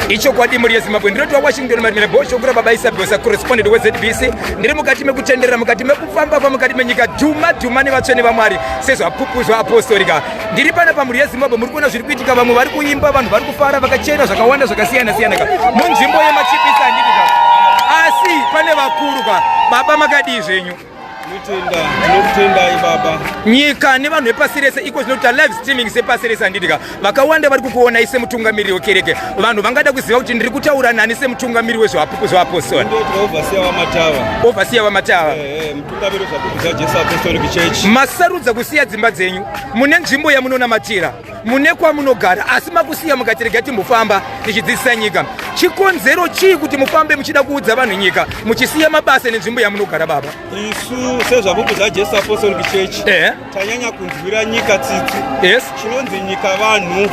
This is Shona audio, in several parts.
ichokwadi mhuri yezimbabwe ndinotiwa washington marimira bosho kura baba isabhosa corresponded wezbc ndiri mukati mekutenderera mukati mekufamba pamukati menyika dhuma dhuma nevatsvene vamwari sezvapupu zvaapostorika ndiri pana pamhuri yezimbabwe muri kuona zviri kuitika vamwe vari kuimba vanhu vari kufara vakachena zvakawanda zvakasiyana siyana ka munzvimbo yemachipisa handiti ka asi pane vakuru ka baba makadii zvenyu nyika nevanhu vepasi rese iko zvino kuita live streaming sepasi rese handidika vakawanda vari kukuonai semutungamiriri wekereke vanhu vangada kuziva kuti ndiri kutaura nani semutungamiriri wezvevapostori ovhasiya vamatava eh, eh, masarudza kusiya dzimba dzenyu mune nzvimbo yamunonamatira mune kwamunogara asi makusiya mukati rega timbofamba tichidzidzisa nyika chikonzero chii kuti mufambe muchida kuudza vanhu nyika muchisiya mabasa nenzvimbo yamunogara baba isu sezvapupu zvajesu apostolic church eh. tanyanya kunzwira nyika tsitsi yes. chinonzi nyika vanhu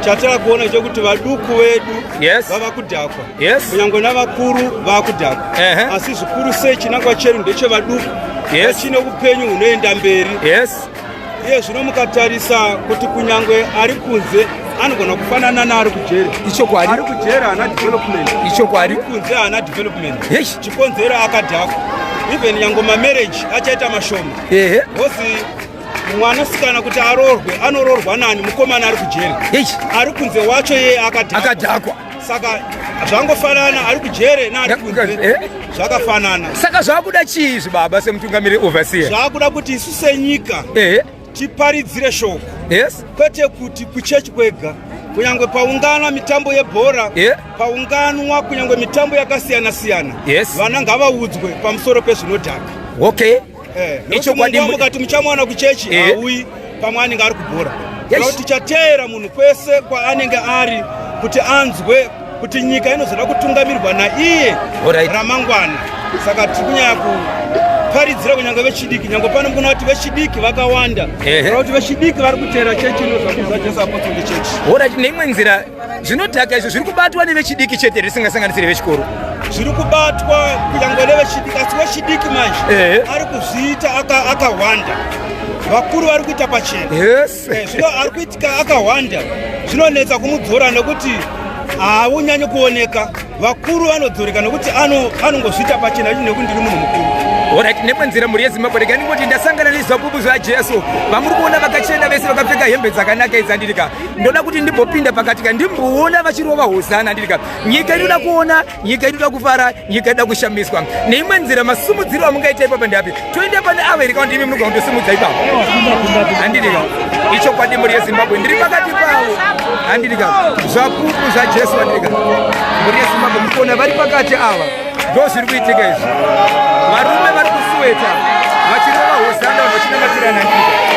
chatava kuona chekuti vaduku vedu yes. vava kudhakwa yes. kunyange navakuru vava kudhakwa uh -huh. asi zvikuru sei chinangwa chedu ndechevaduku yes. vachine upenyu hunoenda mberi yes. iye zvino mukatarisa kuti kunyange ari kunze anogona kufanana naari kujeri ichokwadi ari kujeri haana development ichokwadi kunze haana development chikonzero akadhakwa even nyange mamarriage achaita mashoma ehe hosi mwanasikana kuti arorwe anororwa nani mukomana ari kujeri ari kunze wacho yeye akadhakwa saka zvangofanana ari kujere eh? zvakafanana saka zvakuda chii izvi baba semutungamiri overseer zvakuda kuti isu senyika eh? tiparidzire shoko yes kwete kuti kuchechi kwega kunyange paungana mitambo yebhora yeah. paunganwa kunyange mitambo yakasiyana siyana yes. vana ngavaudzwe pamusoro pezvinodhaka okay eh, nechokwadi mukati muchamwana kuchechi eh. auyi pamwe anenge ari kubhora yes. tichateera munhu kwese kwaanenge ari kuti anzwe kuti nyika inozoda kutungamirwa naiye right. ramangwana saka tiri kunyaya kuparidzira kunyange vechidiki nyange pano mukuna kuti vechidiki vakawanda kuti vechidiki vari kuteera chechi inozvakuzajesu apostoli chechi orit neimwe nzira zvinodhaka izvo zviri kubatwa nevechidiki chete risingasanganisiri vechikoro zviri kubatwa kunyangwe nevechidiki asi wechidiki manje ari kuzviita akahwanda vakuru vari kuita pachena eh, zvino ari kuitika akahwanda zvinonetsa kumudzora nekuti haunyanyi kuoneka vakuru vanodzoreka nekuti anongozviita pachena achi nekuti ndiri munhu mukuru orit nekwenzira mhuri yezimbabwe rega ndingoti ndasangana nezapupu zvajesu vamuri kuona vakachena vese vakapfeka hembe dzakanaka idzi andirika ndoda kuti ndimbopinda pakati ka ndimboona vachirova hosana ndiri ka nyika inoda kuona nyika inoda kufara nyika inoda kushamiswa neimwe nzira masumudziro amungaita ipapa ndeapi toenda pane avo here kakuti imi munoga kundosumudza ipapa handiri ka ichokwadi mhuri yezimbabwe ndiri pakati pavo handiri ka zvapupu zvajesu handiri ka mhuri yezimbabwe mukuona vari pakati ava ndo zviri kuitika izvi varume vari kusuweta vachirova hosana vachinamatira nandika